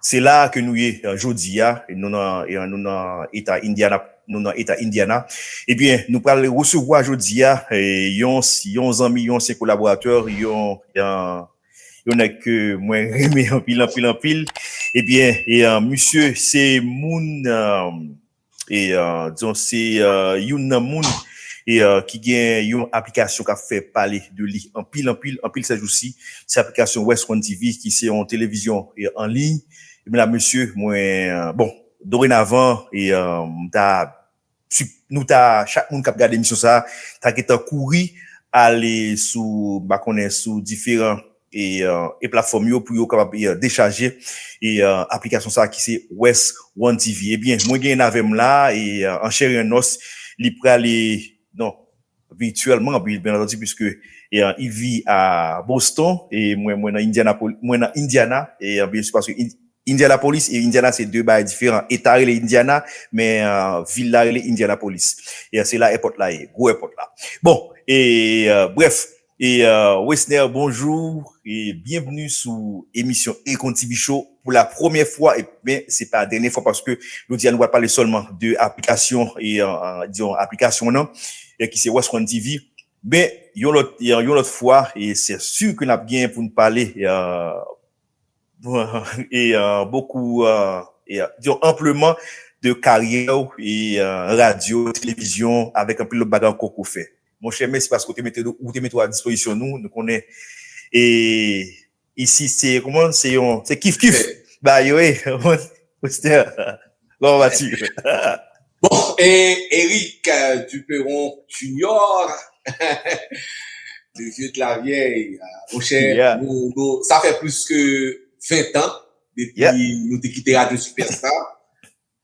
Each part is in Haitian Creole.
Se la a ke nou ye jodi a. Nou nan Eta Indiana. Nou nan Eta Indiana. Ebyen, nou pral resevwa jodi a yon zanmi, yon ansyen kolaboratè, yon nèg ke mwen renmen anpil, anpil, anpil. Ebyen, misye se moun. e dizon se youn nan moun ki gen yon aplikasyon kap fè pale de li anpil anpil anpil sèjousi se aplikasyon West One TV ki se yon televizyon an liy mena mesye mwen bon dorenavan m ta nou ta chak moun kap gade emisyon sa ta gentan kouri ale sou m pa konnen sou diferan e platfòm yo pou yo kapab dechaje aplikasyon sa ki se West One TV ebyen mwen genyenn avèm la an chè e an nòs li prale non virtuèlman byen antandi pwiske il vit a Boston e mwen mwen nan Indiana mwen nan Indiana e byen si paske Indianapolis e Indiana se 2 bagay diferan eta rele Indiana men vil la rele Indianapolis e se la èpòt la ye gwo èpòt la bon e brèf Wesner bonjou e byenvni sou emisyon Econtibu Show pou la premyè fwa men se pa dènyè fwa paske jodi a nou pral pale sèlman de aplikasyon e diyon aplikasyon nan ki se Westcon TV men yon lòt yon lòt fwa e se su ke nap gen pou nou pale e bokou e diyon anpleman de karyè ou e radyo, televizyon avèk anpil lòt bagay ankò ke ou fè Monchè mèsi paske ou te mete ou te mete ou a dispozisyon nou, nou konnen e isit se kouman se yon se kif kif ba yo e moun Westner kòman va tu? Bon e Eric Duperon Junior le vieux de la vieille monchè nou sa fè plis ke 20 tan depi nou te kite radyo Superstar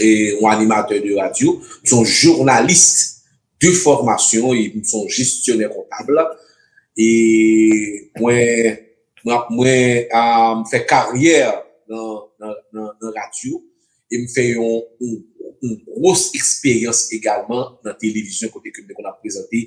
yon animatè de radyo, m se yon jounalis de fòmasyon e m se yon jestyonè kontab. E mwen fè karyè nan radyo e m fè yon gwos eksperyans egalman nan televizyon kote ke m te konn ap prezante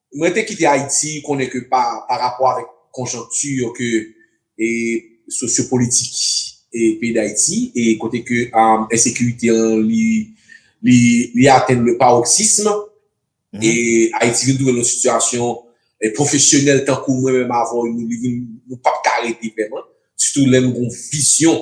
Mwen te kite Ayiti konnen ke pa rapò avèk konjonkti yo ke sosyopolitik peyi Dayiti e kote ke ensekirite an li atenn le paroxysme e Ayiti vin twouve l nan yon sitiyasyon pwofesyonèl tankou mwen menm avè w nou pap ka rete vrèman sitou lè nou gen yon vizyon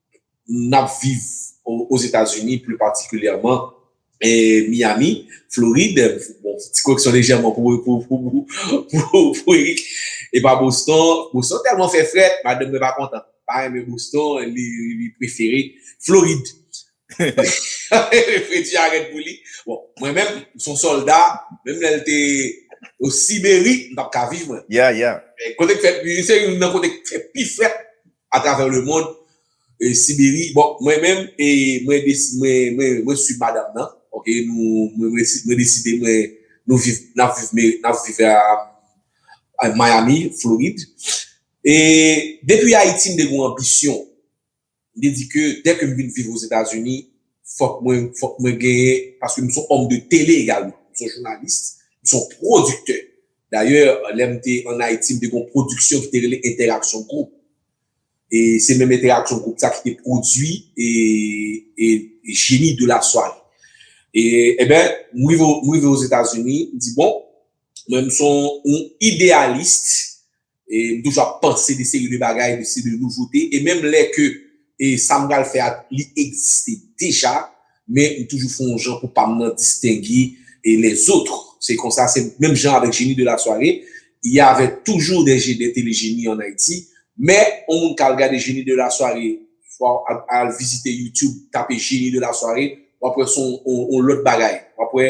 n ap viv Ozetazini, pli patikilyèman Miyami, Florid, bon, ti koreksyon lejèman pou Erik, e pa Boston, Boston tèlman fè frèt, madanm mwen pa kontan, li pa renmen Boston, li prefere Florid, fredi a rèd pou li, bon, mwen menm, m son sòlda, menm lè l te o Siberi, m pa t ka viv mwen, kote k fè, se youn nan kote k fè pi frèt a travè le mond Siberi bon mwen menm mwen desi mwen swiv madam nan ok nou mwen deside mwen nou viv nap viv nap viv a Miami Florid e depi Ayiti m te gon anbisyon m te di ke dè ke m vin viv Ozetazini fòk mwen fòk mwen genyen paske m son òm de tele egalman m son jounalist m son pwodiktè Dayè, lè m te ann Ayiti, m te gen yon pwodiksyon ki te rele Entèraksyon Gwoup. E se menm Entèraksyon Gwoup sa ki te pwodui Génie de la soirée. E, enben, m rive Ozetazini, m di bon, mwen m se yon ideyalis. e m toujou ap panse de seri de bagay, de seri de nouvote, e menm lè ke e sa m pral fè a li egziste deja, men m toujou fon jan pou pa m nan distenge e les autres, se konsa se menm jan avèk Génie de la soirée, il y avait toujours des je des télé génie en Haïti, men on moun ka al gade Génie de la soirée, fwa al vizite YouTube tape Génie de la soirée, w ap wè son on lòt bagay, w ap wè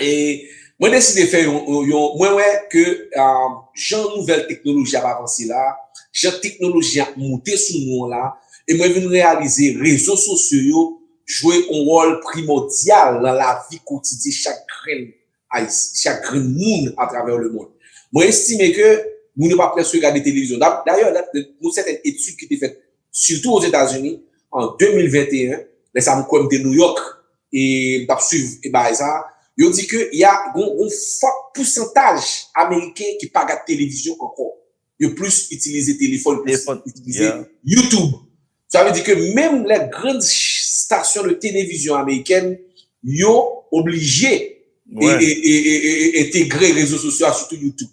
e mwen deside fè yon, mwen wè ke jan nouvèl teknoloji ap avanse la, jan teknoloji ap moute sou nou an la, e mwen vin reyalize rezo sosyo yo jwe yon wòl primòdyal nan lavi kotidye chak grenn Ayisyen, chak grenn moun atravè lemonn. Mwen estime ke moun yo pa prèske gade televizyon. Dayè, yon sèten etid ki te fèt sitou Ozetazini an 2021, lè sa m kwè m te Nouyòk, E m tap swiv e bagay sa. Yo di ke ya gon gon fòt pousantaj ameriken ki pa gad televizyon ankò. Yo plis itilize telefòn plis yo pa itilize YouTube. Sa vle di ke menm lè grand stasyon de televizyon amerikèn yo oblije e e e e entegre rezo sosyo a sitou YouTube.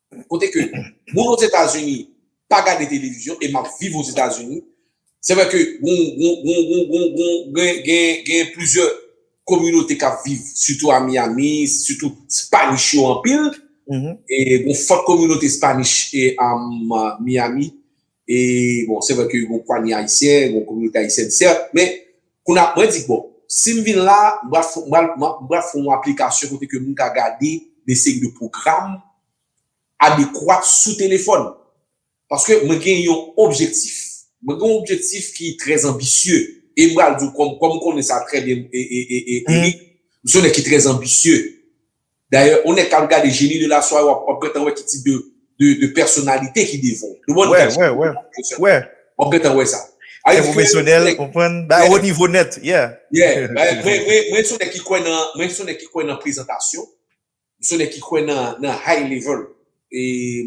kote ke moun ozetazini pa gade televizyon e map viv ozetazini se vre ke gen plizyè kominote kap viv sitou a Miami sitou spanish yo anpil e gen fòt kominote spanish a Miami E bon, se vre ke yon pwanye Ayisyen, yon kominote Ayisyèn sèt, men kounye a mwen di ke bon, si m vin la, m pral fon, m pral fon yon aplikasyon kote ke moun ka gade de seri de pwogram adekwat sou telefòn. Paske mwen gen yon objektif. Mwen gen yon objektif ki trè anbisye. E m pral di w, kòm ou konnen sa trè byen, Eric, m se yon nèg ki trè anbisye. Dayè on nèg kap gade Génie de la soirée wap gentan wè ki tip de pèsonalite ki devan ou. Wè, wè, wè, wè, wè. Wap gentan wè sa. Trè pwofesyonèl, ou konprann, bay ou nivo nèt, yeah. Yeah, mwen son nèg ki kwè nan, mwen son nèg ki kwè nan prezantasyon, mwen son nèg ki kwè nan high level,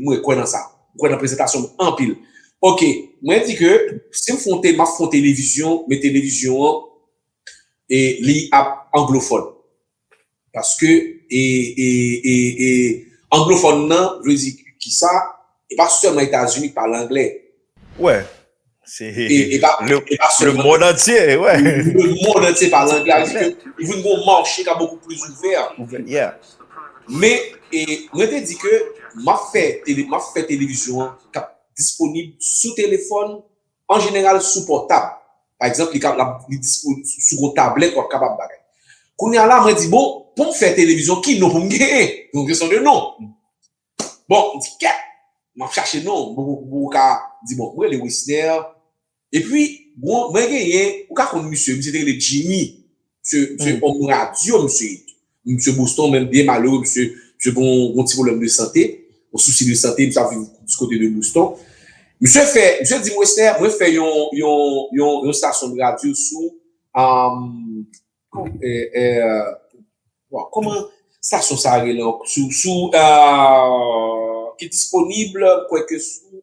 mwen kwè nan sa, mwen kwè nan prezantasyon anpil. Ok, mwen di ke si m fon, map fon televizyon, men televizyon an li ap anglofòn. Paske e e e e anglofòn nan vle di kisa? E pa sèlman Etazini ki pale angle. Wè, se e pa le mond antye, wè. Le mond antye pale angle, sa vle di ke li vin gen yon mache ka bokou plis ouvè. Ouvè, yeah. Men, e mwen te di ke m ap fè tele, m ap fè televizyon an k ap disponib sou telefòn, An jeneral sou pòtab. Pa egzanp li ka la li dispo sou yon tablèt wap kapab bagay. Kounye a la mwen di bon poum fè televizyon ki non poum genyen? Yon kesyon de non. Bon m di kèt map chache non m poko poko ka di bon m rele Wisner epi mwen genyen ou ka konn misye misye te rele Jimmy Msye se òm radyo msye ye tou. Msye Boston menm byen malere msye gon ti pwoblèm de sante, yon sousi de sante, msye ap viv di kote de Boston. Msye fè, msye di m Wesner mwen fè yon, yon, yon, yon stasyon de radyo sou kòman stasyon sa rele ankò? Sou, sou ki disponib kwè ke sou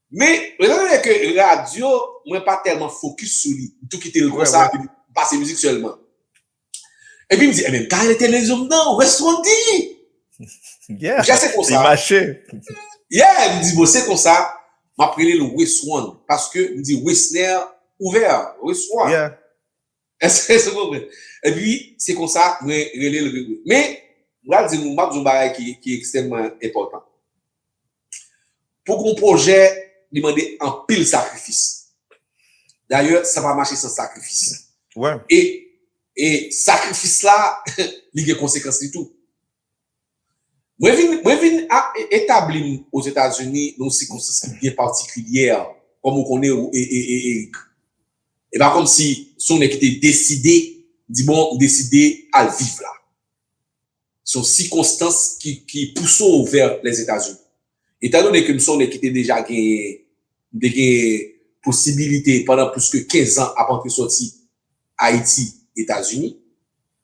Men, rezon e ke radyo, mwen pa tèlman fokis sou li. M tou kite l konsa, epi m pase mizik sèlman. Epi m di, enben, m ka ale televizyon m nan, West Rondi! Yeah! Deja se konsa. Li mache. Yeah! M di, bon, se konsa, m ap rele l West Rond. Paske, m di, Wesner ouvè, West Rond. Yeah! Èske se konprann? Epi, se konsa mwen rele l Gregory. Men, m pral di nou, m ap di yon bagay ki ekstrèmman enpòtan. Pou gon pwojè, li mande anpil sakrifis. Dayè, sa pa mache san sakrifis. E sakrifis la, li gen konsekans li tou. Mwen vin mwen vin a etabli m Ozetazini nan yon sikonstans ki byen patikilyè, kòm ou konnen e e e Erik. E pa kòm si se yon nèg ki te deside di bon m deside al viv la. Se yon sikonstans ki ki pouse w vè Lèzetazini. Etan done ke m sonnen ki te deja genyen, m te genyen posibilite pandan plis ke 15 an ap antre sòti Ayiti, Etazini.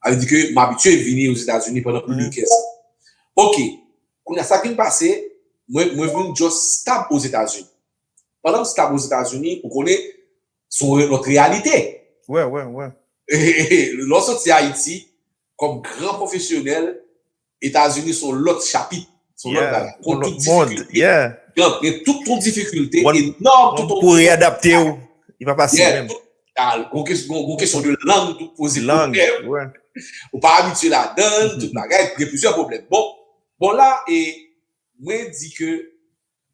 Sa vle di ke m abitye vini Ozetazini pandan plis de 15 an. Ok, kounye a sa k vin pase, mwen mwen vin just stab Ozetazini. Pandan m stab Ozetazini, ou konnen, se yon lòt reyalite. Wè, wè, wè. Lè w sòti Ayiti, kòm gran pwofesyonèl, Etazini s on lòt chapit, s on lòt bagay. Kon tout difikilte, gen tout kon difikilte, enòm tout kon. Pou readapte ou, y pa fasil menm. Gon kesyon de lang tou poze pwoblèm. Ou pa abitye ladan, tout bagay, gen plizyè pwoblèm. Bon, bon la, mwen di ke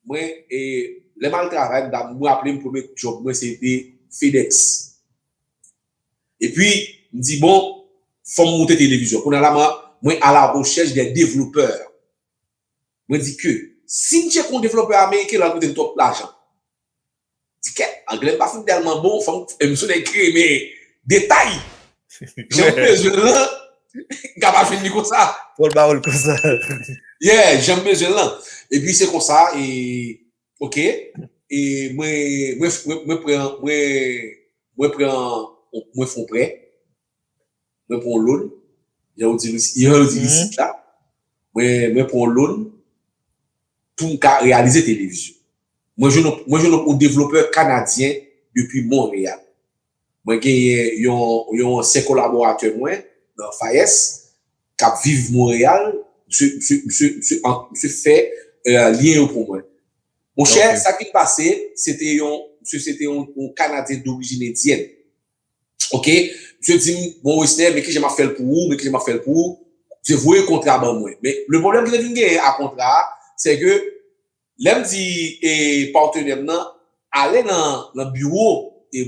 Mwen lèm al travay m raplem premye job mwen se te fedex epi m di bon fòm moute televizyon kounye la mwen a la rechèch de devlopè mwen di ke sim tcheke yon devlopè ameriken lal koute m twòp lajan Ti kèt, anglè m pa fout tèlman bon, fò m sou nèg kreme detay. Jan m bezwen l lan, m ka pa jwenn li konsa. Fò l ba ou l konsa. Yeah, jan m bezwen l lan. Epi se konsa, e, ok, e mwen, mwen, mwen pran, mwen, mwen pran, mwen fon prè. mwen pran yon loun, jan ou di risit la, mwen pran yon loun pou m ka reyalize televizyon. Mwen jwenn yon devlopè kanadyen depi Montreal. Mwen gen yon ansyen kolaboratè mwen nan FAES k ap viv Montreal, misye fè lyen yo pou mwen. Monchè, sa ki pase, misye se te yon kanadyen dorijin endyèn. Ok misye dim bon westè men kijan map fèl pou ou men kijan map fèl pou ou misye voye kontra ban mwen men le pwoblèm ki te vin genyen a kontra a se ke lèm di e patenèm nan ale nan biwo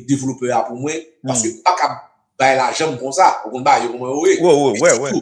developè a pou mwen paske m pakab bay lajanm konsa ou konn bagay yo kòman yo ye wi wi wi wi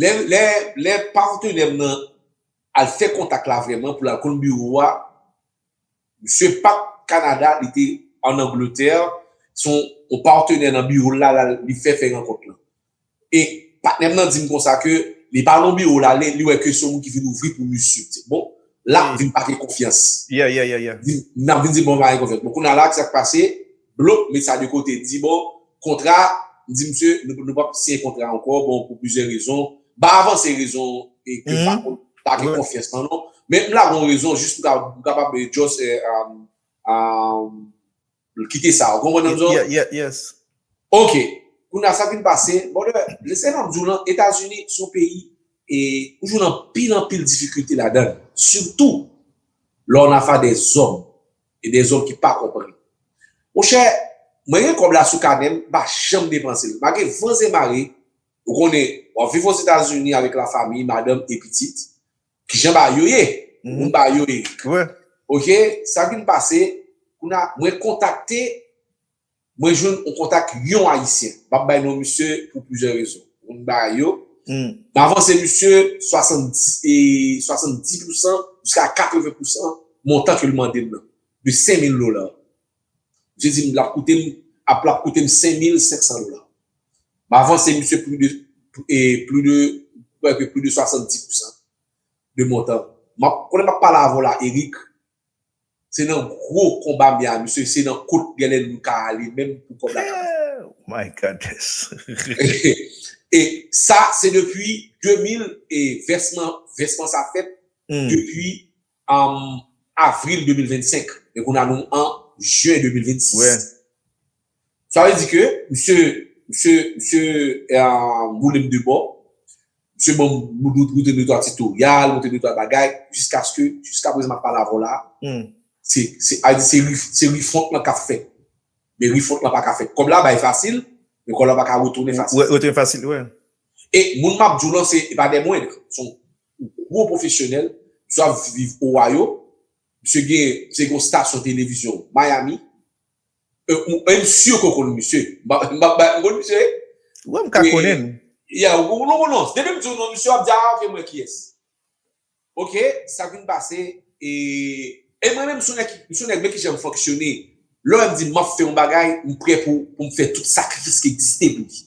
Lè patenè m nan al fè kontak la vrèman pou l al konn biwo a, misye pa t Kanada, li te ann Angletè, se yon patenè nan biwo l la li fè fè rankont lan. E patnè m nan di m konsa ke li pa nan biwo l la, li wè ke se yon moun ki vin ouvri pou misye. M di, bon, la m vin pa gen konfyans. M di, m nan vin di, bon, m pa gen konfyans. Bon, kounye a la, ki sa k pase? Blok met sa de kote di bon kontra m di misye nou pap siyen kontra ankò bon pou plizyè rezon m pa avanse rezon e ke pa konn pa gen konfyans nan non men m lage yon rezon jis pou kapab just kite sa ou konprann m zòrèy ok kounya sa vin pase brother lè sa map di w lan etazini se yon peyi e ou jwenn anpil anpil difikilte ladann sitou lè w nan afa de zòm E de zòm ki pa konprann. Mon chè, mwen gen kòb la sou kanè m, m pa janm depanse l. Malgre van e mare, ou konnen, w ap viv Ozetazini avèk lafanmi, madanm e pitit. Ki jan bagay yo ye? Moun bagay yo ye. Ok, sa vin pase, kounye a, mwen kontakte Mwen jwenn yon kontak yon ayisyen, m pap bay non misye pou plizyè rezon, moun m bay yo, m avanse misye 70 pou san jiska 80 pou san montan ke l mande m nan, de 5000 dola. Misye di m l ap koute m, ap l ap koute m 5500 dola. M avanse misye pli de, pli de, m kwè ke pli de 70 pou san de montan. M ap, konnen m ap pale avè w la Eric, Se nan gro konba m ye a mesye se nan kot genlè nou ka ale menm pou kob la ka pase. Ooh my Godness. E sa se depi 2000 e vèsman vèsman sa fèt depi avril 2025 men kounye a nou an jen 2026. Sa vle di ke misye, misye, misye boulem de bò, misye banm moute de twa titoryal, moute de twa bagay, jiskaske, jiskaprezan map pale avèw la, se, se al di se ri, se ri fwont lan kap fèt. Men ri fwont lan pa ka fèt. Kòb la bay fasil, men kòb la pa ka retounen fasil. Retounen fasil, wè. E moun map diw lan se, e pa dè mwendr, son gwo pwofesyonèl, misye ap viv Ohio, misye gen, misye gen yon stasyon televizyon Miami, Ou m sur ke w konn misye. M pa bay, ou konn misye wi? Wi m ka konnen l. Ya, ou konn l non. Depi m di w non misye w ap di a ok m wè kiyès. Ok, sa k vin pase e e mwen menm m son nèg ki, m son nèg men ki jan m fonksyone. Lè w wè m di m ap fè yon bagay, m prè pou m fè tout sakrifis ki egziste pou li.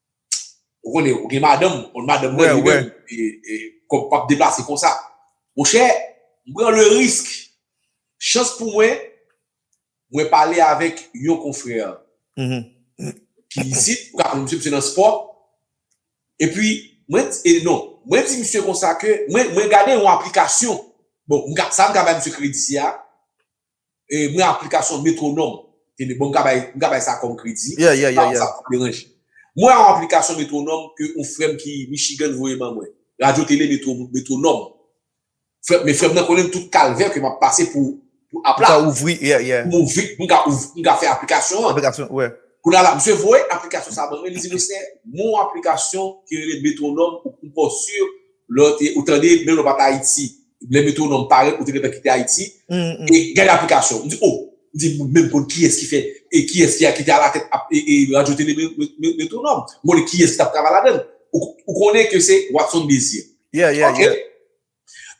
Ou konnen, ou gen madanm, ou konnen madanm mwen li menm, kòm pap deplase konsa. Mon chè, m pran le risk. Chans pou mwen, mwen pale avèk yon konfrè ki isit, ou ka konnen misye, misye nan spò. E pi, mwen, e non, mwen di misye konsa ke, mwen gade yon aplikasyon, bon, sa m ka bay misye kredi si a, mwen aplikasyon Metronome tele bon m ka bay m ka bay sa kòm kredi m pa kwè sa pap deranje mwen yon aplikasyon Metronome ke yon frè m ki Michigan voye ban mwen radyo tele Metronome frè men frè m nan konnen tout kalvè ke m ap pase pou pou app la pou m ka ouvri pou m ouvri pou m ka ouvri pou m ka fè aplikasyon an kounye a la misye voye aplikasyon sa ban mwen li di mwen se yon aplikasyon ki rele Metronome ou pou m ka sur lè ou tande menm lè ou pa t Ayiti, lè metwonòm parèt ou te gentan kite Ayiti, e gade aplikasyon, m di o, m di m menm konn kiyès ki fè e kiyès ki te alatèt radyo tele metwonòm, m konnen kiyès ki t ap travay ladan l, ou konnen ke se Watson Désir. Ok,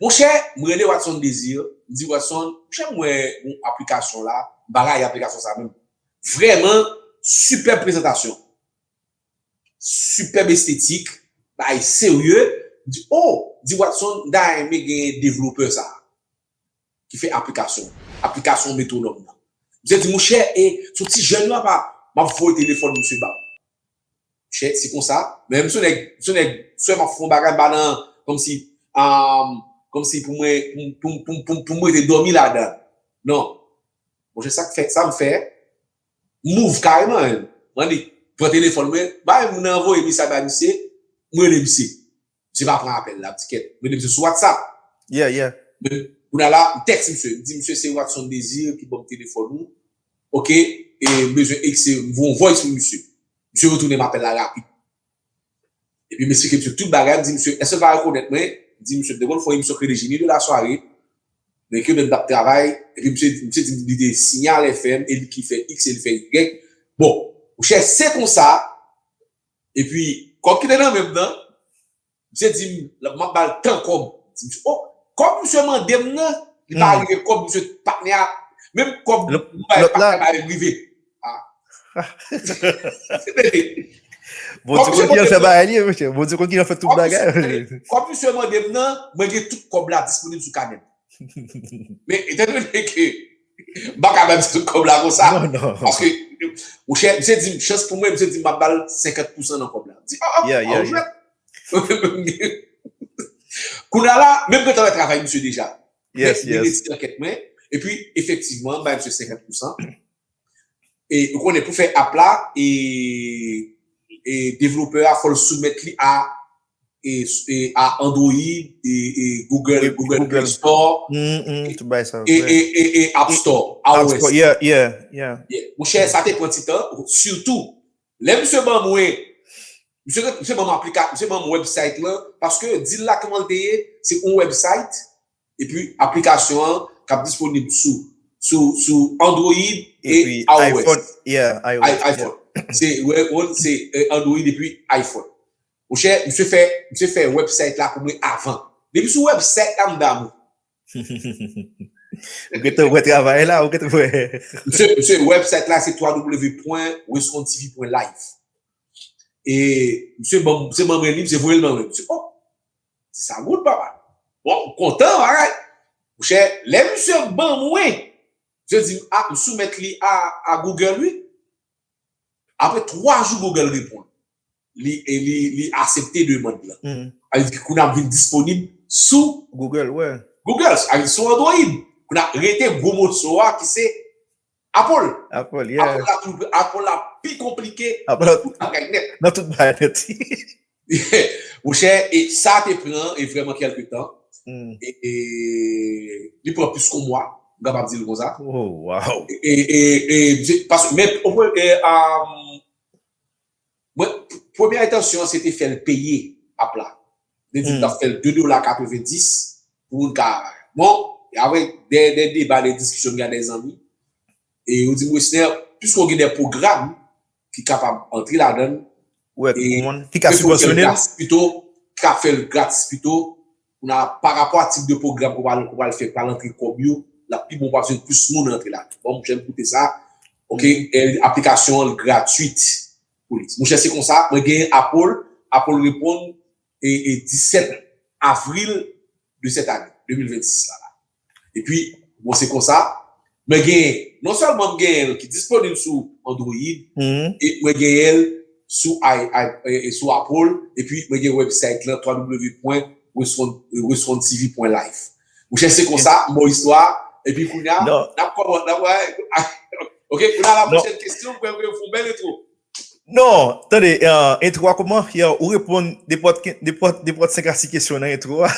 monchè m rele Watson Désir, m di Watson, monchè m wè yon aplikasyon la, m pa rayi aplikasyon sa menm, vrèman sipèb prezantasyon. Superb estetik, bagay serye, m di oh di Watson m ta renmen gen developper sa ki fè aplikasyon an, aplikasyon metronome nan. Misye di monchè e son ti jèn nan pa, m ap voye telefòn misye ba ou. Monchè se konsa, men m son nèg, m son nèg sèm ap fè yon bagay m pa nan kòmsi umm kòmsi pou mwen pou m pou m pou m rete dòmi ladan l non. Monchè sa k fè, sa m fè. M move kareman hein m annik pran telefòn mwen bay moun nan voye mesaj bay misye m rele misye misye pa pran apèl la m di kèt m rele misye sou whatsapp yeah yeah kounya la m tèks misye m di misye se Watson Désir ki banm telefòn ou ok e m bezwen ekse m voye yon voice pou misye misye retounem apèl la rapid. Epi m esplike misye tout bagay, m di misye èske l pa rekonèt mwen, m di misye m te konn fè yon emisyon ki rele Génie de la soirée, men ke lè m t ap travay, epi misye di misye di m li te Signal FM e li ki fè iks e li fè ygrèk, bon monchè se konsa, epi kòb ki te nan men m nan, misye di m l ap m ap ba l tan kòb, m di misye o, kòb misye mande m nan, li pa rive kòb misye patnè a, menm kòb nou bay patnè a pa janm rive. Bon ti kon ki an fè bagay li mwen chè. Bon ti kon ki an fè tout bagay. Kòb misye mande m nan, mwen gen tout kòb la disponib sou kanè m. Men etan done ke m pa ka ba misye tout kòb la konsa. Non non. Paske mwen chè misye di m chans pou mwen misye di m m ap ba l 50 pousan nan kòb la. M di oh oh ou jwèt. Kounya la men m gen tan fè travay misye deja. Yes yes. Mwen retire kèk mwen epi efektivman m bay misye 50 pousan. E ou konnen pou fè app la e e developer a fòl soumèt li a e e a android e e google google play store Humm tout bagay sa yo vre e e e app store app store yeah yeah yeah monchè sa te pran ti tan sitou lè misye ban mwen misye misye banm aplika misye banm website lan paske dil la kmanl te ye se yon website Epi aplikasyon an k ap disponib sou Android e iOS. Se Android epi iPhone. Monchè, misye fè website la pou mwen avan. Depi sou website la m damou. Ou gen tan wè travay la. Misye, website la se www.wescontv.live. E misye ban mwen li, misye voye l ban mwen. Di sa good papa. Bon m kontan bagay. Monchè lè misye ban mwen je di m ah m soumèt li a Google wi. Apre 3 jou Google reponn li e li asepte demand lan. Sa vle di kounye a m vin disponib sou Google, sa vle di sou Android. Kounye a rete gwo moso a ki se Apple la pi konplike nan tout bagay nèt. Nan tout bagay nèt. Mon chè, e sa te pran e vrèman kèlke tan. E li pran plis kon mwa, m kapab di l kon sa. Woww! E, e, e, paske men, e, a. Mwen premye entansyon an se te fèl peye app la. Mwen te di mtap fèl 2 dola 90 pou moun ka bon aprè dè deba dè diskisyon m gen ak dè zanmi e yo dim Wesner piske w gen dè pwogram ki kapab antre ladann e mwen te konn fèl gratis pito mta fèl gratis pito. Kounye a, pa rapò a tip de pwogram ou pral fè pral antre kòb yo, l ap pi bon ou pa bezwen plis moun antre la. Bon, monchè m koute sa, ok, aplikasyon an gratwit pou li. Monchè se konsa, mwen genyen Apple, Apple reponn e 17 avril de sèt ane, 2026 la la. Epi, bon se konsa, mwen gen, non sèlman m genyen l ki disponib sou Android, e mwen genyen l sou sou Apple, epi mwen gen website lan www.respondtv.life. Monchè se konsa, m ba w istwa a, epi kounya, n ap kòman, n ap wè, ok, kounya la pwochèn kesyon, m kwè m fè yon bèl entwo. Non, tande, entro a kouman? Yow, ou reponn nenpòt 5 a 6 kesyon nan entro a.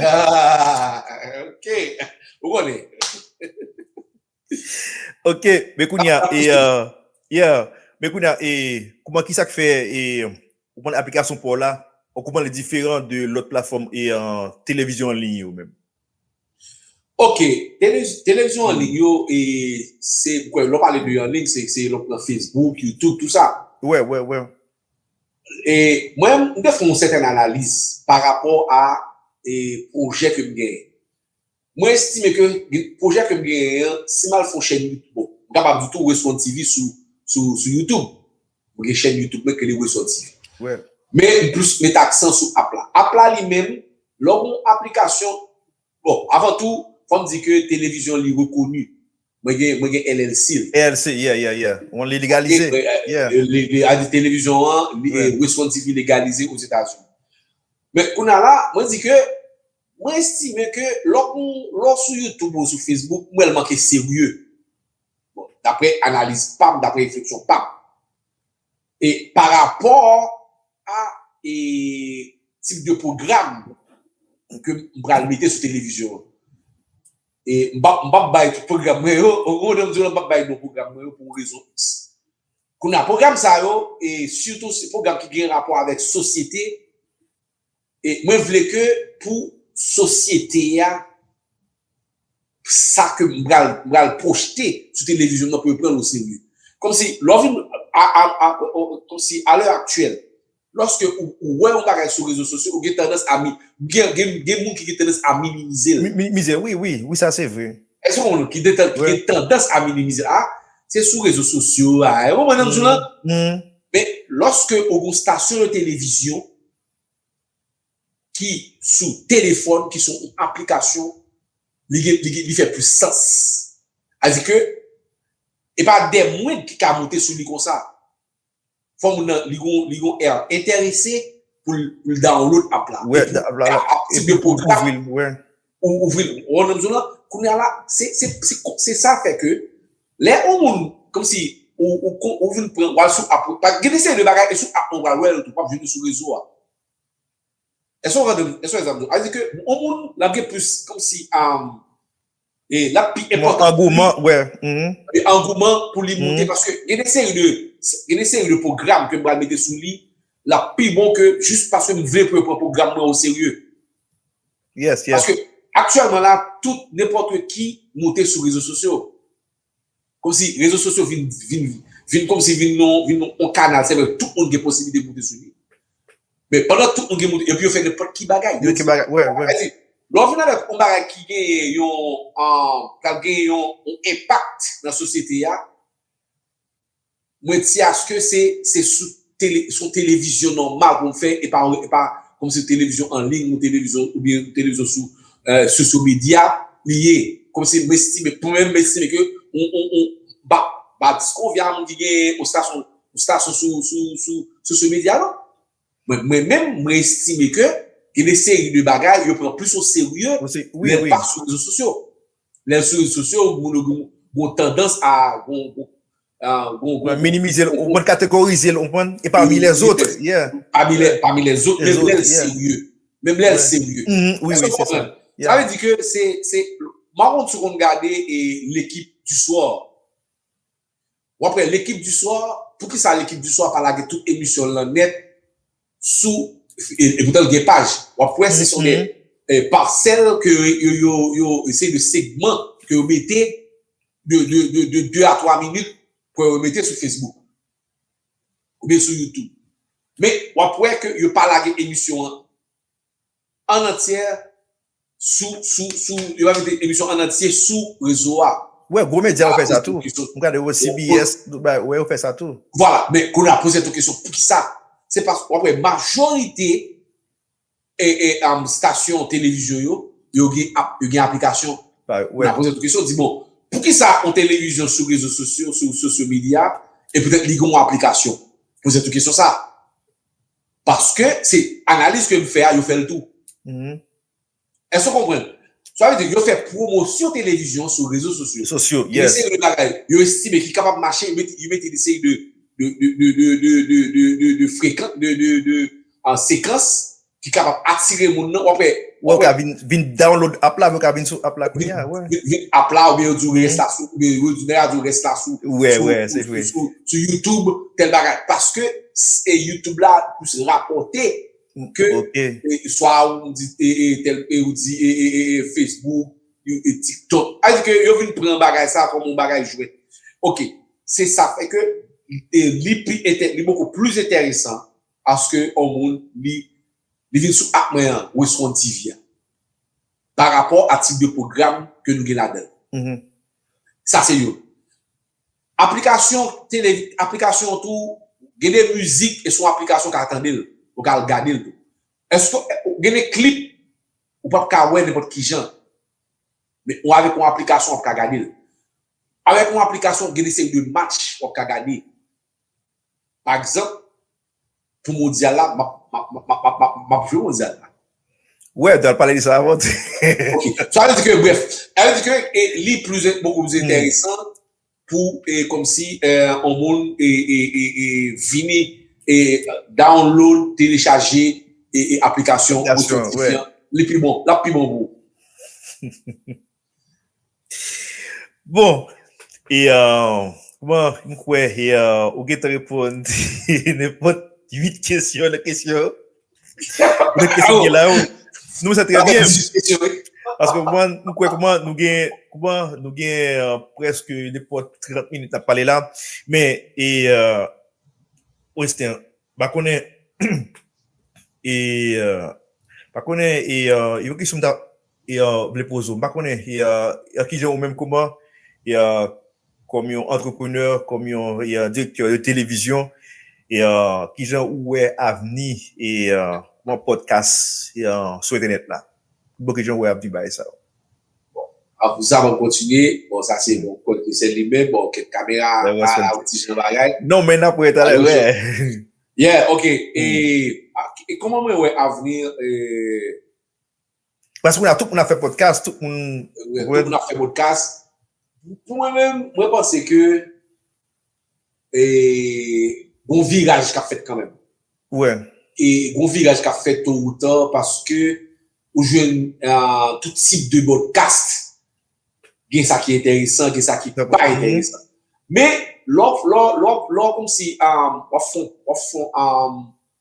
Aah, ok, ou konnen. Ok, men kounye a, e, yeah, men kounye a, e, kouman, kisa k fè, e, ou konn aplikasyon pa w la, kouman li diferan de lòt platfòm, e, televizyon an liy yo menm? Ok, televizyon an lig yo, se kwen lò pale de an lig, se lò pran Facebook, YouTube, tout sa. Wè, wè, wè. E mwen, mwen te fè yon sèten analiz pa rapò a pwojè ke m gen. Mwen estime ke pwojè ke m gen an, si m al fè yon chèn YouTube, m kapab di tou Westhon TV sou YouTube. Mwen gen chèn YouTube mwen ke li resòti. Men m plis met aksan sou app la. App la li menm, lè w gen yon aplikasyon, bon, avan tou, fò m di ke televizyon li rekoni. Mwen gen, mwen gen LLC l. LLC, yeah, yeah, yeah. Ou li legalize. Yeah. Televizyon an, li responsib, li legalize Ozetazini. Men, kounye a la, mwen di ke, mwen estime ke lè w, lè w sou YouTube ou sou Facebook, mwen wè l manke serye. Bon, daprè analiz pa m, daprè refleksyon pa m, e pa rapò a e tip de pwogram ke m pral mete sou televizyon an. E m pa m pap bay tout pwogram mwen yo, ou konprann m di w la, m pap bay non pwogram mwen yo pou rezon x. Kounye a pwogram sa yo, e sitou se pwogram ki gen rapò avèk sosyete, E mwen vle ke pou sosyete a, sa ke m pral, m pral pwojte sou televizyonm nan pou yo pran l o serye. Kòmsi lè w vin a, a, a, kòmsi a lè aktyèl, lòske ou, ou wè yon bagay sou rezo sosyo, ou gen tandans a mi, gen, gen, gen moun ki gen tandans a minimize l. Minimize l, wi, wi, wi sa se vre. Èske w konprann m? Ki gen tan, ki gen tandans a minimize l. A, se sou rezo sosyo a, ou konprann sa m di w la? Men, lòske ou gen yon stasyon de televizyon, ki sou telefòn ki sou yon aplikasyon li gen li fè plis sans sa di ke e pa de mwen ki ka moute sou li konsa fò moun nan li gon li gon èr entèrese pou l download app la e pou app ti depo pou l ouvri l ou ouvri l ou konprann sa m di w la kounya la se sa fè ke lè on moun kòmsi ou vin pran wal sou app paske gen de seri de bagay e sou app ou pral wè l tou pap jwenn yo sou rezo a èske w konprann èske w wè sa m di w la sa vle di ke on moun l ap gen plis kòmsi l ap pi enpòtan angouman wè angouman pou li moute paske gen de seri de gen de seri de pwogram ke m pral mete sou li l ap pi bon ke jis paske m vle pou yo pran pwogram mwen o serye Yes, yes. Paske aktyèlman la, tout, nenpòt ki moute sou rezo sosyo. Kòm si rezo sosyo vin, vin, vin kòm si vin yon, vin yon kanal, se vre tout moun gen posiblite moute sou li. Men pandan tout moun gen moun, epi yo fè nenpòt ki bagay. Nenpòt ki bagay, wè, wè. Sadi, lè w vin avèk yon bagay ki genyen yon, an, k ap genyen yon enpakt nan sosyete a, Mwen di aske se se sou tele son televizyon nòmal pou m fè e pa e pa kòm se televizyon an liy ou televizyon oubyen televizyon sou sosyo medya li ye kòm se m estime pou mwen m estime ke on on on ba ba diskonvya moun ki gen on stasyon on stasyon sou sou sou sosyo medya non. Mwen menm mwen estime ke gen de seri de bagay yo pran plis o serye lè pa sou rezo sosyo. Lè sou rezo sosyo moun yo gon tandans a gon gon minimize l, ou konn kategorize l ou konprann e pami lèzot. Pami lèzot menm lè l serye. Menm lè l serye. Èske ou konprann? Sa vle di ke se se m pa konn si w konn gade L'Equipe du soir. Wap wè l'equipe du soir, poukisa l'equipe du soir pa lage tout emisyon l lan nèt sou e poutan l gen paj. Wap wè se son de parsèl ke yo se de segman ke yo mete de 2 a 3 minit pou yo mete sou Facebook oubyen sou YouTube. Men wap wè ke yo pa lage emisyon an. An antyè sou sou sou yo pa mete emisyon an antye sou rezo a. Wè gwo medya yo fè sa tou. M gade yo CBS tout bagay wè yo fè sa tou. Vwala men kounye a poze tou kesyon poukisa se paske wap wè majorite stasyon televizyon yo yo gen aplikasyon kounye a poze tou kesyon di bon poukisa yon televizyon sou rezo sosyo sou sosyo medya e poutèt li gen yon aplikasyon poze tou kesyon sa. Paske se analiz ke m fè a yo fè l tou. Èske w konprann? Sa vle di yo fè pwomosyon televizyon sou rezo sosyo. Sosyo, yes. Yon seri de bagay yo estime ki kapab mache, yo mete yon seri de de frekan, de de sekans ki kapab atire moun nan. Ou ap wè. Wè ou ka vin vin download app la vè ou ka vin sou app la kounya wè. Vin app la oubyen yo di ou rès la sou oubyen yo di nèg la di ou rès la sou Wè wè se vre. sou sou YouTube tèl bagay paske e YouTube la plis rapòte ke Ok. swa ou di e e tèl e ou di e e e Facebook you e TikTok sa vle di ke yo vin pran bagay sa kòm yon bagay jwèt ok se sa fè ke e li pi entè li bòkò plis entèresan Paske on moun li li vin sou app mwen an respond TV a pa rapò a tip de pwogram ke nou gen ladan l. Sa se youn. Aplikasyon tele aplikasyon tou gen de mizik e son aplikasyon ka tande l ou ka al gade l tou. Eske gen de klip ou pap ka wè nenpòt kijan men ou avèk on aplikasyon wap ka gade l. Avèk on aplikasyon gen de seri de match wap ka gade Pa egzanp, pou mondyal la, m ap jwe mondyal la. Wè, te al pale de sa avan tou. Ok. Sa vle di ke, brèf, sa vle di ke li plis, bokou plis enteresan pou kòmsi yon moun vini download, telechaje aplikasyon Motion TV an. Li pi bon. L ap pi bon pou ou. Bon, e kouman m kwè e ou gentan reponn nenpòt 8 kesyon nan kesyon yo. Nan kesyon ki gen la yo. Nou wè sa trè byen. Paske ou konprann, m kwè kouman nou gen, kouman nou gen prèske nenpòt 30 minit n ap pale la. Men e Western, m pa konnen e m pa konnen e yon kesyon m ta vle poze w. M pa konnen ki jan ou menm kouman kòm yon antreprenè, kòm yon direktè de televizyon, ki jan ou wè avni yon pòdkas sou entènèt la? Bon, ki jan ou wè avni bagay sa yo? Bon, pou sa map kontinye, bon sa se yon kòd ke sèl li men, bon kèk kamera pa la yon ti jan bagay. Non men nap wè talè wè. Yeah, ok, e kòman mwen wè avni Paske kounya tout moun ap fè podcast, tout moun. Tout moun ap fè podcast. Pou mwen menm, mwen panse ke gon viraj kap fèt kanmenm. Wè. E gon viraj kap fèt to ou ta paske ou jwenn tout tip de podcast. Gen sa ki enteresan, gen sa ki pa enteresan. Men, lò, lò, lò, lò kòmsi wap fon, wap fon,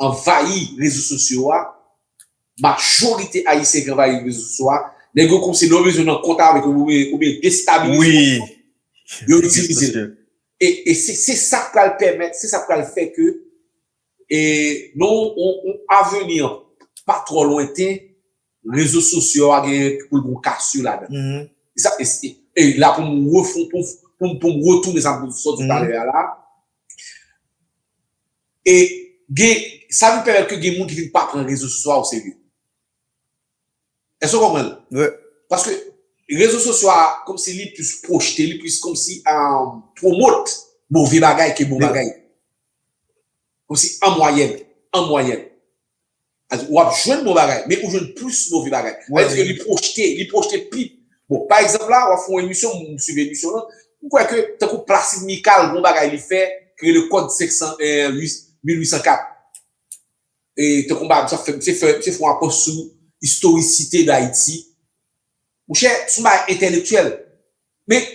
anvayi rezo sosyo a, majorite ayisyen ki anvayi rezo sosyo a, nèg yo kòmsi lè yo bezwen nan kont avèk yo oubyen destabilize yon moun, yo itilize l. E se sa k pral pèmèt, se sa k pral fè ke nan yon aveni pa twò lwenten, rezo sosyo a gen pou l gen yon kasyo ladan. E la pou m retounen sa m sot di talè a la, E gen, sa vin pèmèt ke gen moun ki vin pa pran rezo sosyo a o serye. Èske w konprann? Wi. Paske rezo sosyo a kòm si li plis pwojte, li plis kòm si pwomot move bagay ke bon bagay. Kòm si an mwayèn, an mwayèn. Ou ap jwenn bon bagay, men ou jwenn plis move bagay. Sa vle di ke li pwojte, li pwojte pi. Bon, pa egzanp la, w ap fè yon emisyon, m swiv emisyon lan, m kwè ke tankou Placide Mikal gon bagay li fè ki rele kòd 501 1804. E tankou m pa fè, misye fè yon apwòch sou istorisite Dayiti. Monchè, son bagay entèlektyèl. Men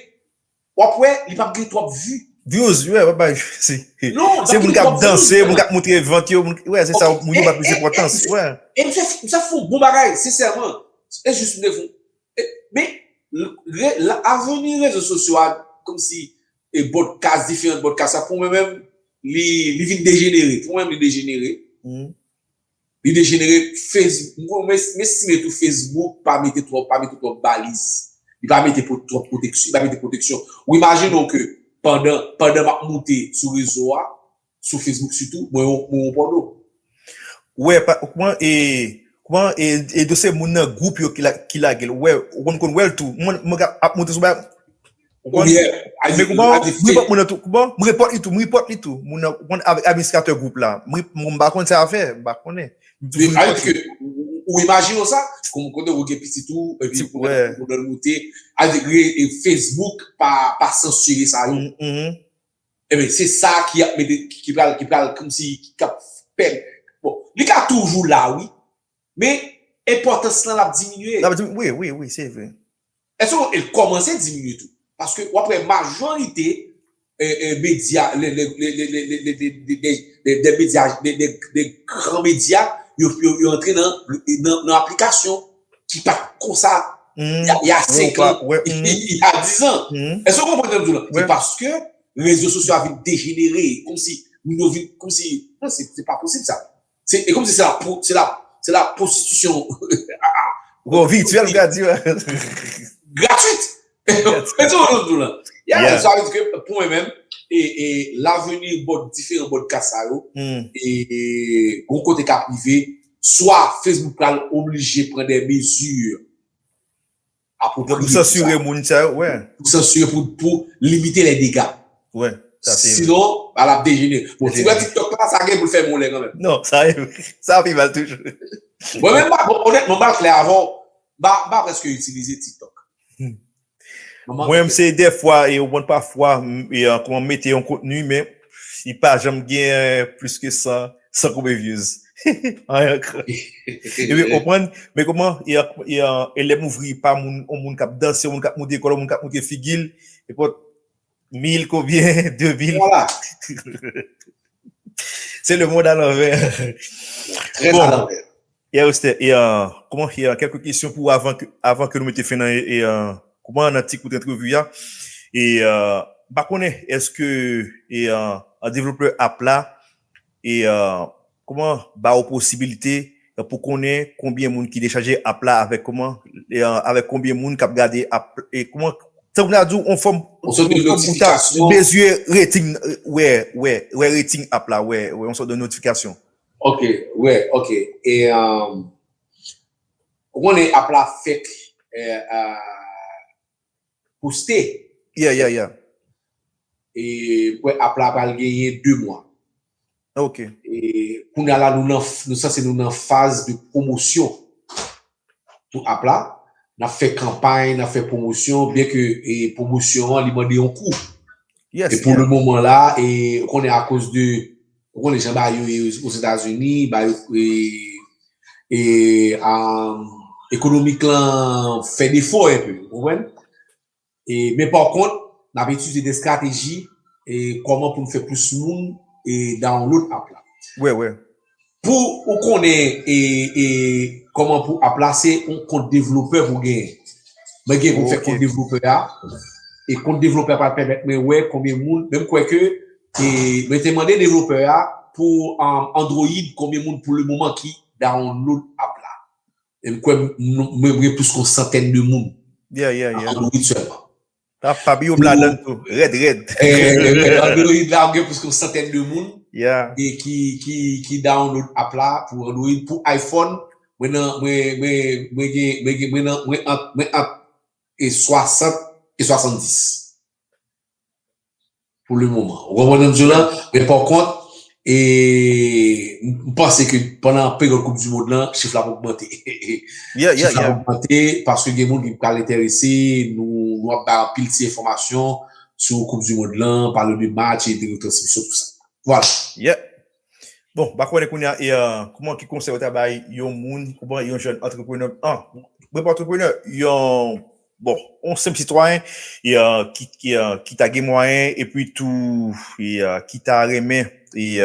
wap wè li pap gen twòp vu. Views wi wap bay vu se moun kap danse moun kap moutre vant yo moun wè se sa wap moun yo bay plis enpòtans wè. E misye misye fon bon bagay sensèman e jis mte fon men avni rezo sosyo a komsi e bòdkas diferan bòdkas sa pou mwen menm li vin dejenere pou mwen menm li dejenere Li dejenere Facebook m estime tou Facebook pa mete twòp baliz li pa mete twòp pwoteksyon ou imajine w ke pandan m ap moute sou rezo a sou Facebook sitou mwen yon pòno. Ou wè kouman e kouman e do se moun nan gwoup yo ki lage l ou wè ou konn wè l tou mwen ap moute sou bagay. Ou ye, a di, a di fye. Mwen repòt moun nan tou, bon, mwen repòt li tou, mwen repòt li tou. Moun nan, moun nan avèk administratè gwoup la. Mwen, mwen pa konn sa a fè, mwen pa konnen. A di fye, ou imajine ou sa? Kon, kon de ou gen pitit ou, e pi pou mwen, pou mwen moute. A di fye, e Facebook pa, pa sansire sa yo. E men, se sa ki ap mete, ki pral, ki pral kòm si, ki kap fè. Bon, li ka toujou la wi. Men, enpòtans lan ap diminye. Ap diminye, wi, wi, wi, se vre. Èske w el kòmanse diminye tou? Paske w ap wè majorite medya le de de medya de gran medya yo yo antre nan nan aplikasyon ki pa t konsa y a 5 an y a 10 an èske w konprann sa m di w lan? Se paske rezo sosyo a vin dejenere kòmsi moun yo vin kòmsi non se pa posib sa Se ekom si se la pou, se la, se la prostitisyon. Bon, vityèl grati. Gratuit! Mwen sou yon dou la. Ya, yon sa yon dike pou mwen menm, e, e, la veni bòt dife yon bòt kasa yo, e, e, yon kote ka prive, swa Facebook pral oblije pran de mezi, Pou sansire moun sa yo. Pou sansire pou limite le dega. Sinon, ba la ap dejene. Bon, ti wè tiktok la, sa gen pou l fè moun lè kan mèm. Non, sa yo. Sa pi mal toujou. Mwen menm pa, bon, onètman, m pa klè avè w. M pa prèske itilize tiktok. Mwen menm se de fwa, e ou konn pa fwa, m mete yon kontni, men li pa janm gen plis ke 100. San koube views. Anyen ankr. Ebyen konprann, men koman e lè m ouvri pa moun, yon moun kap danse, yon moun kap moute kòl, yon moun kap moute figi l, e pot mil konbyen, de mil. Vwala. Se le mond a lanvè. Trè a lanvè. Pierre Esther e Kouman e kèlke kesyon pou avan avan ke nou mete fen nan e kouman nan ti kout antrevi a e m pa konnen èske e developer app la e kouman ba ou posibilite pou konnen konbyen moun ki dechaje app la avèk kouman e avèk konbyen moun k ap gade app e kouman tankou m ta di w on fòm on sòt de notifikasyon mezire rating wè wè wè rating app la wè wè on sòt de notifikasyon. Ok wè ok e ou konnen app la fèt pou stay yeah yeah yeah e kwè app la pral genyen 2 mwa ok e kounya la nou sanse nou nan faz de pwomosyon. Sou app la, nap fè kanpay, nap fè pwomosyon, byen ke pwomosyon an li mande yon kou. E pou le moman la, ou konnen akoz de, ou konnen jan bagay yo ye Ozetazini, bagay yo e ekonomik lan fè defo enpe, ou konprann? Men pa kont, n ap itilize de strateji kòman pou n fè plis moun download app la. Pou ou konnen kòman pou app la, se yon kont devlopè pou gen. Mwen gen pou m fè kont devlopè a. E kont devlopè a pral pèmèt mwen wè konbyen moun, menm kwè ke mwen te mande devlopè a pou Android konbyen moun pou le moman ki download app la. Em kwè mwen gen plis kon santèn de moun. Yeah yeah yeah. Android selman. Ah Fab Youb ladann tou. Rèd rèd. Android la ou gen plis kon santèn de moun. Yeah. E ki ki ki download app la pou Android. Pou iPhone mwen nan mwen mwen mwen gen mwen gen mwen nan mwen ant mwen ant e 60 e 70. pou le moman. Ou konprann sa m di w la? Men pa kont, m panse ke pandan peryòd koup dimond lan, chif la ap ogmante. Chif la ap ogmante paske gen moun ki pral enterese, nou ap bay anpil ti enfòmasyon sou koup dimond lan, pale de match, de retransmisyon, tout sa. Vwala. Bon, mpa konnen kounye a e kouman ki konsèy ou ta bay yon moun ou ban yon jèn antreprenè an, mwen pa antreprenè, yon bon, yon senp sitwayen e ki ki ta gen mwayen epi tou e ki ta renmen e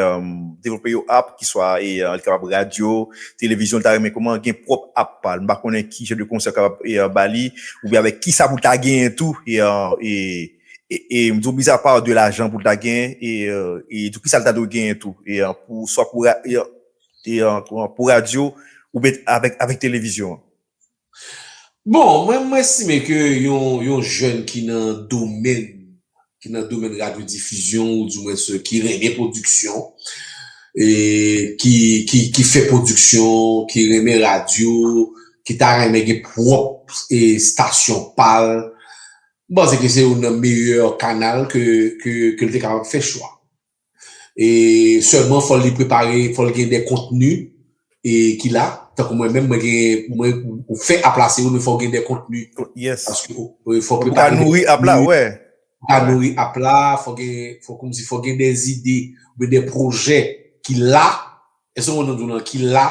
devlope yon app ki swa e li kapab radyo, televizyon li ta renmen kouman gen pwòp app pa l. Mpa konnen ki jan de konsèy ou kapab e ba li oubyen avèk kisa pou l ta genyen tou e. E m di w mizapa de lajan pou l ta genyen, e tou kisa l ta dwe genyen tou? E pou swa pou e pou radyo ou byen avèk televizyon an? Bon, mwen m estime ke yon jèn ki nan domèn ki nan domèn radyodifizyon ou di mwens ki renmen pwodiksyon e ki fè pwodiksyon, ki renmen radyo, ki ta renmen gen pwòp estasyon pa l, M panse ke se youn nan meyè kanal ke l te kapab fè chwa. E sèlman fò li prepare, fò l gen de kontni e ki la, tankou mwen menm mwen gen, mwen ou fè ap la se youn men fò w gen de kontni. Yes. Fò w ka nouri ap la, wè. Fò w ka nouri ap la, fò gen, fò kòm si fò gen de zide, oubyen de pwojè ki la Eske ou konn nan ki la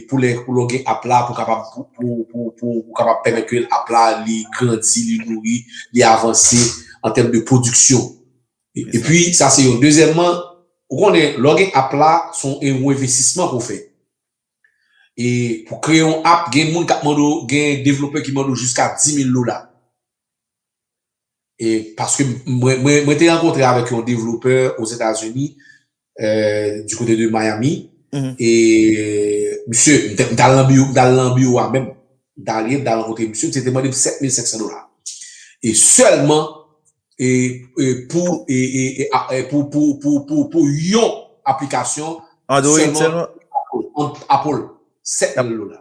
pou lè pou lè ou gen app la pou kapab pou kapab pèmèt ke app la li grandi, li nouri, li avanse an tèm de pwodiksyon. E pi sa se yon. Dezyèmman, ou konnen lè ou gen app la son e yon envestisman pou fè. E pou kreye yon app gen moun kap mande ou, gen devlopè ki mande ou jiska 10 mil dola. E paske mwen te rankontre avèk yon devlopè o Zetazini, di kote de Miami, e misye, m ta lan biwo a menm, m ta li, m ta rankontre misye, misye te mande m 7500 dola. E sèlman, e pou, e pou, pou, pou, pou, pou yon aplikasyon, sèlman, Apple, 7000 dola.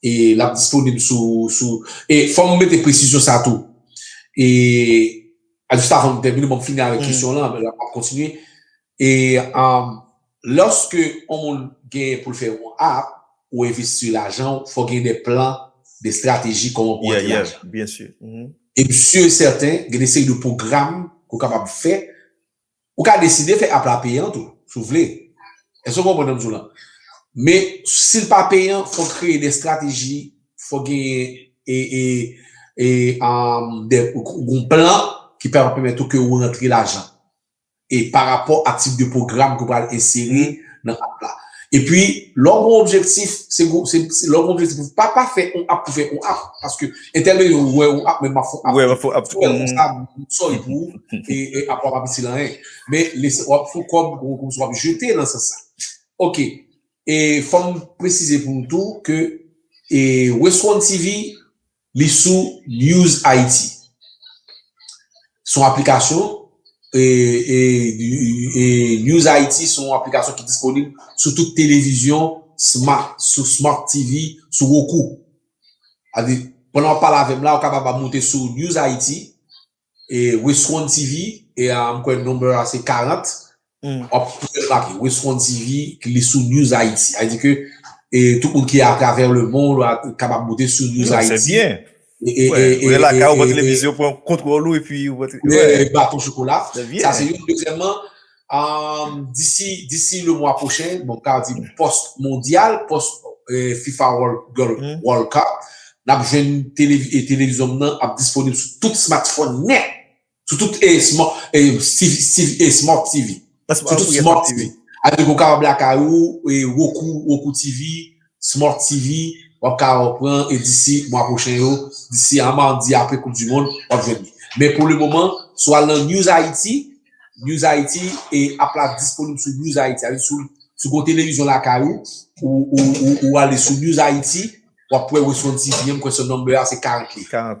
E l ap disponib sou sou. E fò m mete presizyon sa tou. E a jis avan m tèmine bon m fini avèk kesyon w lan apre la m ap kontinye. E lòske on moun gen pou l fè on app ou envesti lajan w fò gen de plan de strateji kòman pou antre lajan. Yeah yeah byen sur. E m sur e sèten gen de seri de pwogram ke w kapab fè Ou ka deside fè app la peyan tou si w vle. Èske w konprann sa m di w lan? Men si l pa peyan fò w kreye de estrateji, fò w genyen yon plan ki pèmèt ou ke ou rantre lajan. E parapò a tip de pwogram ke w pral ensere. nan app la. E pi lè w gen yon objektif, se pou w pa pa fè yon app pou fè yon app. Paske entènè yo wè yon app men map fè yon app. Wè map fè yon app. Fè yon konsa pou sòl pou ou. E app ou a pa itil anyen. Men wap fè yon kòb ou konprann wap jete nan sans sa. Ok. E fòm presize pou nou tou ke Westwantv Li sou News Haiti. Se yon aplikasyon News Haiti se yon aplikasyon ki disponib sou tout televizyon smart, sou Smart TV, sou Roku. Sa vle di, pandan w ap pale avè m la, ou kapab ap moute sou News Haiti, E westwon TV e a mkwè number a se 40 wap toujou la ki westwon TV li sou news ayiti sa vle di ke e tout moun ki a travè le mond wa kapab moute sou news ayiti. Yo se byen. E e e e la ka ou pran televizyon pran kontwòl ou epi ou pran. Baton chokola. Se byen. Sa se youn dezyèmman. Disi le mwa pwochen, bon ka di post mondyal, post fifa world cup, nap jwenn televizyon nan ap disponib sou tout smartphone nè, sou tout smart tv, sou tout smart tv. Adi ou ka wè lakay ou, wokou tv. Smart TV, Wap ka pran e disi mwa pwochen yo, disi a mardi apre koup du mond, wap jwenn li. Men pou le moman, si w al nan News Haiti, News Haiti e app la disponib sou News Haiti. Sa vle di si w gen yon televizyon lakay ou, ou ale sou News Haiti, wap wè Westworld TV an, m kwè sèl number a se 40 li. 40.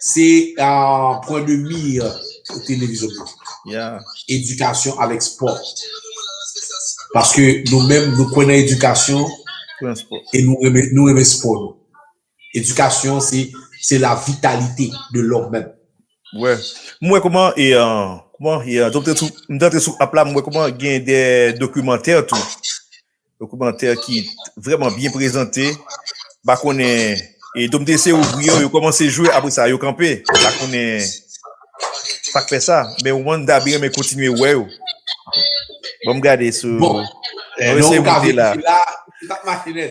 Se pwen de mir televizyon politik. Edikasyon avèk spò. Paske nou menm nou kwè nan edikasyon e nou renmen spò nou. Edikasyon se la vitalite de lòm menm. Wè. M wè kouman e kouman e m te antre sou app la m wè kouman gen de dokimantè tou. Dokimantè ki vreman byen prezante. Ba konnen e domde se ouvri yo yo komanse jwe apre sa yo kanpe. Ba konnen sak fè sa. Men wan da byen men kontinye wè yo. Bon m gade sou. Bon. Mwen se mwen te la. Bon. Mwen se mwen te la. Mwen se mwen te la.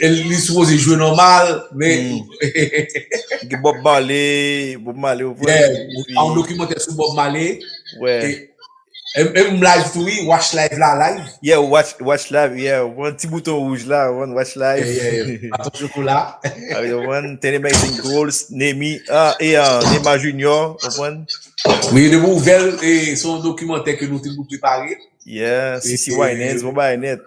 Li sipoze jwe nòmal, men... Ki Bob Marley, Bob Marley ou pran. Yeah, an dokimantè sou Bob Marley. Wè. E m live tou wi, watch live la live. Yeah, watch live, yeah. Ou pran ti bouton wouj la, ou pran watch live. Yeah, yeah, yeah. Baton chokola. A yo pran, ten amazing goals, Nemi, e an, Nema Junior, ou pran. Wi, de pou ouvel, e son dokimantè ke nou te pou prepare. Yeah, Sisi Wynans, bon bagay net.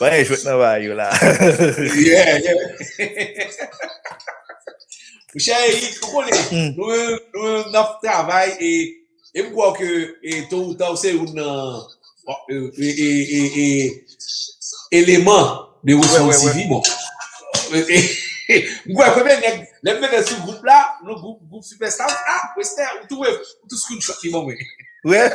Mwen jwet nan bay yo la. Yeah, yeah. Mon cher Eric, ou konnen, hmm. nou nou nan travay e e m kwè ke e to ou ta ou se ou nan e e e e eleman de Weston TV bon. M kwè premye nèg lè m mete sou group la, nou group group superstar, ah Weston ou tou ou tou screenshot li bon mwen. Ouais.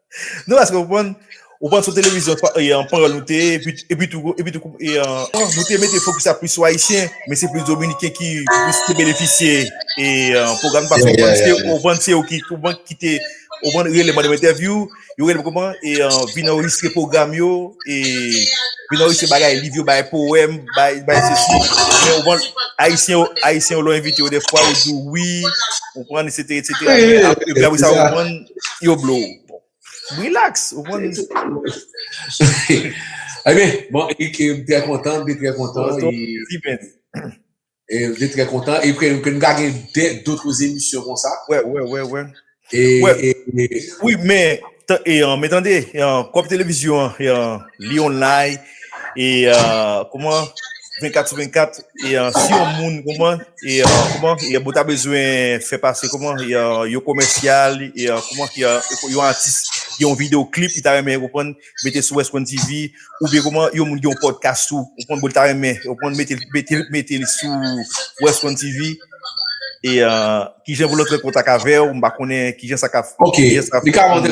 Non eske ou konprann? Ou pran sou televizyon e an panyòl nou te ye, epi tou, epi tou e an, nou te mete fokis la plis sou ayisyen, men se plis dominiken ki plis te benefisye e an pwogram sa paske ou konprann se ou konprann se yo ki ou konprann ki te ou konprann rele mande m entèvyou, yo rele m ou konprann e an vin anrejistre pwogram yo e vin anrejistre bagay liv yo bay powèm, bay bay sesi men ou konprann ayisyen yo ayisyen yo lè w envite yo dèfwa yo di w wi ou konprann esetera esetera men apre sa ou konprann. Yo blo ou. Bon. Relax. Ou konn. Ebyen, bon, e ke m trè kontan, m te trè kontan. Oto, pi byen di. E m te trè kontan. E ke m ka gen de dotre emisyon kon sa. Wè, wè, wè, wè. E, e, e. Wi, men, e, men tande, e, kòp televizyon, e, li online. e kouman 24 sou 24 e si yon moun kouman e kouman e bo ta bezwen fè pase kouman e yo komèsyal e kouman ki yo atis yon video klip ki ta remen kouman mete sou wèch kouman TV ou be kouman yon moun yon podcast ou kouman bo ta remen ou kouman mete mete mete sou wèch kouman TV e ki jen voulot rekontak avèw mba konen ki jen sa ka ok li ka mande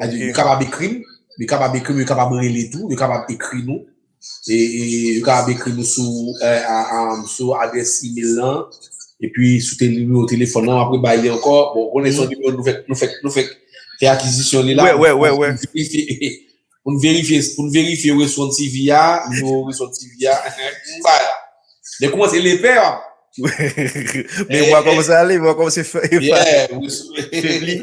Yo kapab ekri m, yo kapab ekri m, yo kapab rele tou, yo kapab ekri nou. E yo kapab ekri nou sou adrès email lan, epi sou nimewo telefòn lan, m ap rebay li ankò. Bon, ou konnen se yon nimewo nou fèk, nou fèk, nou fèk fè akizisyon li la. Wè, wè, wè, wè. Pou n verifye, pou n verifye Reswon TV a, nimewo Reswon TV a, m bay la. Lè w koumanse lepè a. Men m wè kòman sa ale, m wè kòman se fè. Yeah. Febli.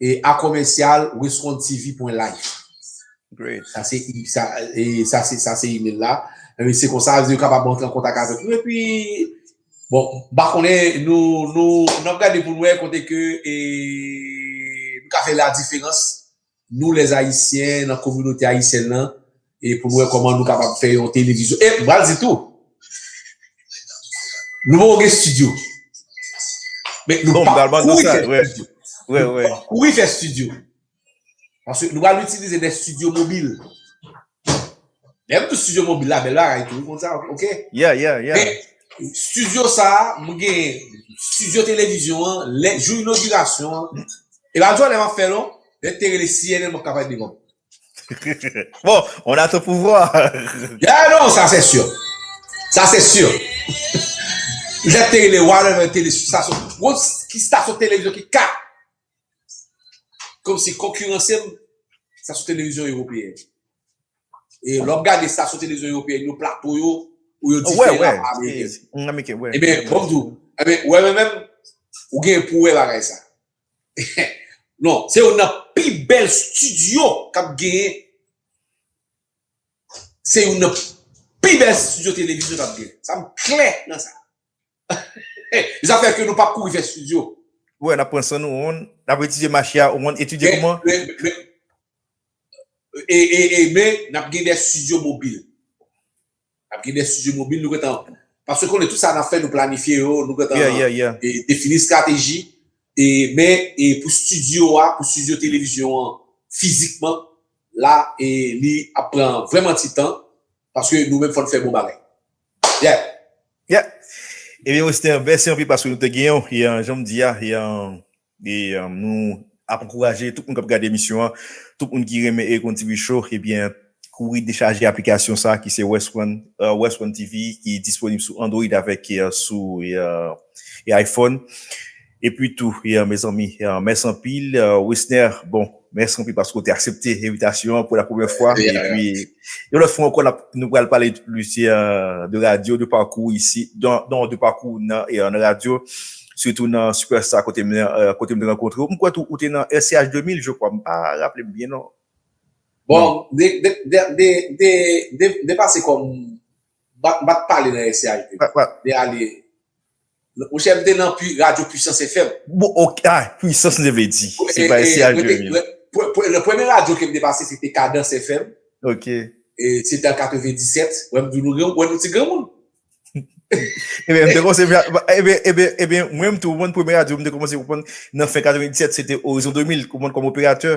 E a commercial wescontv.life Great. Sa se e sa e sa se sa se email la. E se konsa yo kapab antre an kontak avèk nou e pi bon ba konnen nou nou nap gade pou nou wè kote ke e nou ka fè la diferans nou les ayisyen nan kominote ayisyèn lan E pou nou wè kòman nou kapab fè yon televizyon. E, m pral di tou, nou poko gen stidyo. Men, nou pa kouri fè stidyo. Nou pa kouri fè stidyo. Paske nou pral itilize de stidyo mobil. Lè m di stidyo mobil la, bèl bagay tou, ou konn sa, ok? Yeah, yeah, yeah. Men, stidyo sa, m gen stidyo televizyon an, lè, jou inogirasyon an. E pa jwè lè m ap fè l non. Lè te rele CNN m ap ka pale devan ou. Bon, on a ton pouvwa. Ya non, sa se sur. Sa se sur. Jè te rele wa lè lè tele stasyon. Wou ki stasyon televizyon ki ka. Kom si konkurensem sa sou televizyon ewopeyen. E lòp gade stasyon televizyon ewopeyen yo plato yo ou yo dife la pa ameriken. Ebe, bonjou. Ebe, wè mwen menm ou gen pou wè bagay sa. Non, se youn nan pi bèl studio kap genyen se youn nan pi bèl studio televizyon kap genyen sa m klè nan sa zafè ke nou pap kouri fè studio ou wè nap pran san nou on nap etidye mache a ou konn etidye kouman e e e men nap gen de studio mobil. Ap gen de studio mobil nou gentan paske konnen tout sa nap fè nou planifye yo nou gentan defini strateji e men e pou studio a pou studio televizyon an fizikman la e li ap pran vreman ti tan paske nou menm fòn fè bon bagay yeah. Yeah Ebyen Wester mèsi anpil paske nou te genyen w e janm di a e E nou ap ankouraje tout moun kap gade emisyon an, tout moun ki renmen Erekon TV Show ebyen kouri dechaje aplikasyon sa ki se West One, West One TV ki disponib sou Android avèk sou iPhone. Epi tou mezanmi mèsi anpil Wisner bon Mèsi anpil paske w te aksepte envitasyon an pou la premyè fwa. E pi, yon lòt fwa ankò, nou pral pale plis de radyo, de pakou w isi, non, de pakou w nan radyo, sitou nan Superstar kote m te rankontre w. M kwè tou ou te nan RCH 2000, je kwa. M pa raple m byen, non. Bon, de pase kòm, m pa t pale nan RCH 2000. De ale. Monchè m te nan pu radio puissance FM. Bon ok ah puissance li te vle di. Se pa se al de mil. Nan premye radyo kem te pase se te Cadence FM. Ok. E se te an 97. Wè m di nou gen wè nou ti granmoun. Ebyen m te kòmanse ebyen ebyen ebyen mwen m tou w konn premye radyo m te kòmanse w konn nan fen 97 se te Horizon 2000 w konn kòm operatè.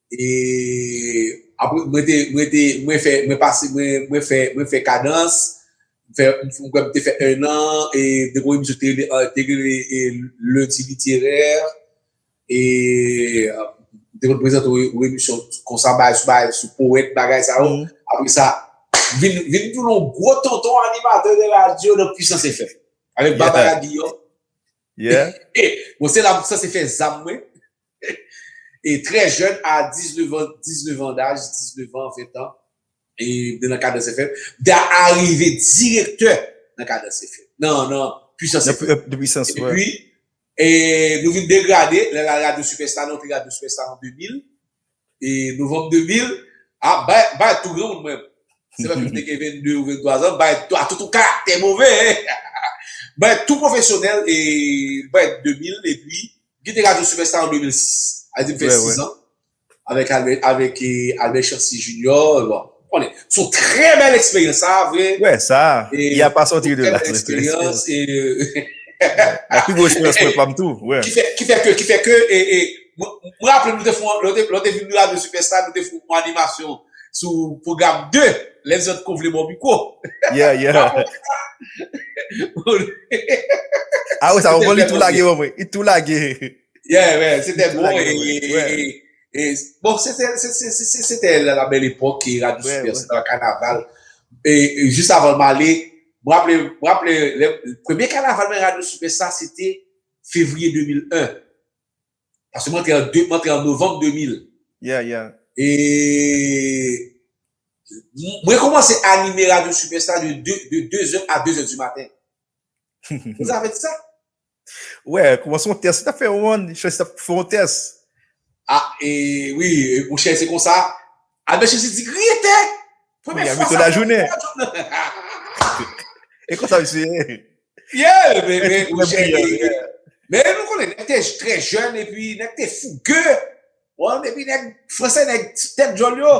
E apre mwen te, mwen te, mwen fè, mwen pase, mwen, mwen fè, mwen fè kadans, m fè, m kwè m te fè 1 an, e depi misye te rele, te rele e Lundi Littéraire, e m te konn prezante yon emisyon konsa bay sou bay, sou powèt bagay sa yo, apre sa, vin, vin tounen yon gwo tonton animatè de radyo nan Puissance FM, avèk Barbara Guillaume, yeah, e bon se la m sanse fè zam mwen, e trè jèn a 19 an 19 an daj 19 an 20 an e nan Kadans FM da arive direktè nan Kadans FM nan nan Pwisans FM epi e nou vin degrade lè la radyo sipèsta nou te radyo sipèsta an 2000 E novanm 2000, ah bay bay tou granmoun mwen. Se pa menm te gen 22 ou 23 zan, bay a tout ou karaktè move e. Bay tou pwofesyonèl e bay 2000 e pi gen te radyo sipèsta an 2006. A di m fè 6 zan avèk avèk Albert Chancy Junior. konnen son trè bèl eksperyans sa vre wè sa ya pa soti de la eksperyans la pi gwo eksperyans mwen pam tou wè ki fè ke ki fè ke mwen raple nou te fon lè nou te vin radyo sipèsta nou te fon yon animasyon sou pwogram 2 lè zòt ko vle baw mikwo yeah yeah a wè sa wè li tou lage wè li tou lage yeah wè se te bon e E, bon, se te, se, se, se, se, se te la la bèl epòk ki radyo Vre, Super vre. Star, kanaval. E, e, jis avan m ale, m raple, m raple, le, premye kanaval mwen radyo Super Star se te fevriye 2001. Paske m antre an de, m antre an novanm 2000. Yeah, yeah. E, m, mwen kòmanse anime radyo Super Star de de, de 2 zè a 2 zè di maten. Vous savez de ça? Wè kouman son tès li tap fè ou an chèlsi tap fè yon tès. Ah e wi ou chèy se konsa Albert chèlsi di griyen tè premye fwa sa fè mwen wè djòl nan e konsa misye ye yeah men ou chèy men nou konnen nèg te trè jèn epi nèg te fougueux. Bon depi nèg fransè nèg tèt djòl yo.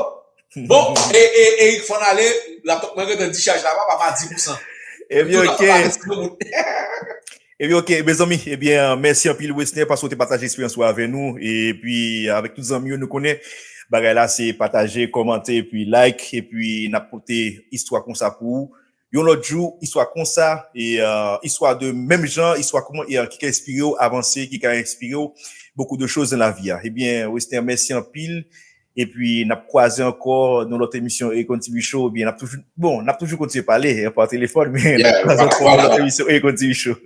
Bon, e, e, Eric fon ale, la pòt mwen gen di chaj la pa pa ma di pou san. E bi ok. E bi ok, me zanmi, e bi mèsi anpil Wesner paske ou te pataje eksperyans ou avè nou, e pi avèk tout zanmi yo nou konnen bagay la se pataje, kòmante, e pi like, e pi nap pote istwa konsa pou ou. Yon lòt jou istwa konsa istwa de menm jan istwa kouman ki ka enspire w avanse ki ka enspire w bokou de choz nan lavi a ebyen Westner mèsi anpil epi n ap kwaze ankò nan lòt emisyon Eric on TV show ebyen n ap toujou bon n ap toujou kontinye pale pa telefòn men n ap kwaze ankò nan lòt emisyon Eric on TV show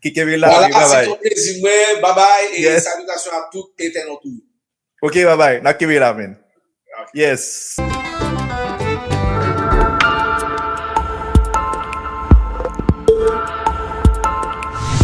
kenbe la e babay. Vwala se te yon plezi mwen babay e salutasyon a tout entènot ou yo. Ok babay nap kenbe la men yes.